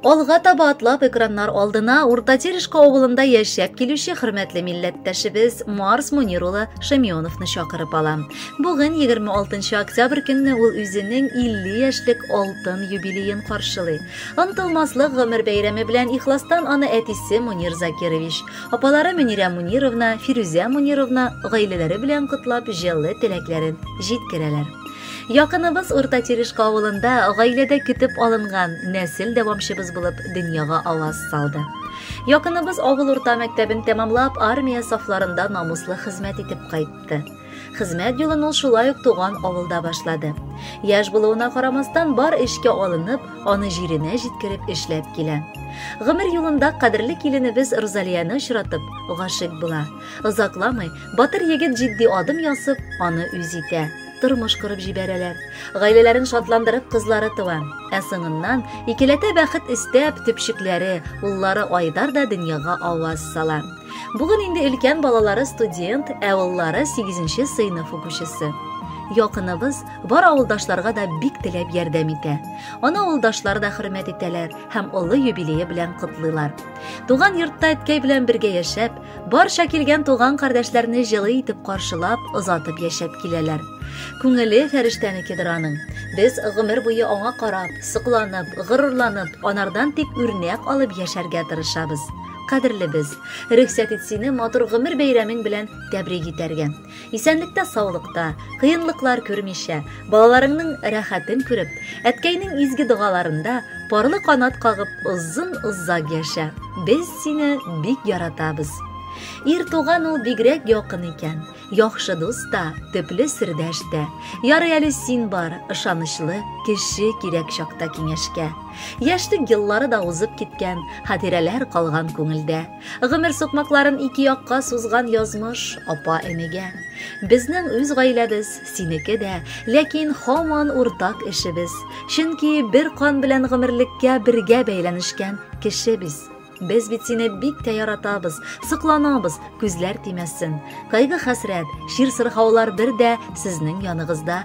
Алга таба атлап экраннар алдына Урта Терешка авылында яшәп килүче хөрмәтле милләттәшебез Марс Мунир улы Шамионовны чакырып алам. Бүген 26 октябрь көнне ул үзенең 50 яшьлек алтын юбилеен каршылый. Онтылмаслык гомер бәйрәме белән ихластан аны әтисе Мунир Закирович, апалары Мөнирә Мунировна, Фирүзә Мунировна гаиләләре белән котлап җылы теләкләрен җиткерәләр. Якыныбыз Урта Терешка авылында гаиләдә көтеп алынган нәсел дәвамчыбыз булып дөньяга аваз салды. Якыныбыз авыл урта мәктәбен тәмамлап, армия сафларында намуслы хезмәт итеп кайтты. Хезмәт юлын ул шулай ук туган авылда башлады. Яш булуына карамастан бар эшкә алынып, аны җиренә җиткереп эшләп килә. Гомер юлында кадерле киленебез Рузалияне очратып, гашык була. Озакламый батыр егет җитди адым ясып, аны үз итә. тормыш корып җибәрәләр. Гаиләләрен шатландырып кызлары туа. Ә соңыннан икеләтә бәхет истәп төпчекләре, уллары Айдар да дөньяга аваз сала. Бүген инде өлкән балалары студент, ә уллары 8нче сыйныф укучысы. Якыныбыз бар авылдашларга да бик теләп ярдәм итә. Аны авылдашлар да хөрмәт итәләр һәм олы юбилее белән котлыйлар. Туган йортта әткәй белән бергә яшәп, Барча килгән туган-кардәшләрне җылы итеп каршылап, озатып яшәп киләләр. Күңеле фәрештәнекедер аның. Без гомер буе аңа карап, сокланып, горурланып, анардан тик үрнәк алып яшәргә тырышабыз. Кадерлебез, рөхсәт ит сине матур гомер бәйрәмең белән тәбрик итәргә. Исәнлектә саулыкта, кыенлыклар күрмичә, балаларыңның рәхәтен күреп, әткәйнең изге догаларында парлы канат кагып озын озак яшә, без сине бик яратабыз. Ир туган ул бигрәк якын икән, яхшы дус та, төпле сердәш тә. Ярый әле син бар, ышанычлы, кеше кирәк чакта киңәшкә. Яшьлек еллары да узып киткән, хатирәләр калган күңелдә. Гомер сукмакларын ике якка сузган язмыш апа энегә. Безнең үз гаиләбез, синеке дә, ләкин һаман уртак эшебез. Чөнки бер кан белән гомерлеккә бергә бәйләнешкән кеше без. Без бит сине бик тә яратабыз, сокланабыз, күзләр тимәсен. Кайгы-хәсрәт, чир-сырхаулар бер дә сезнең яныгызда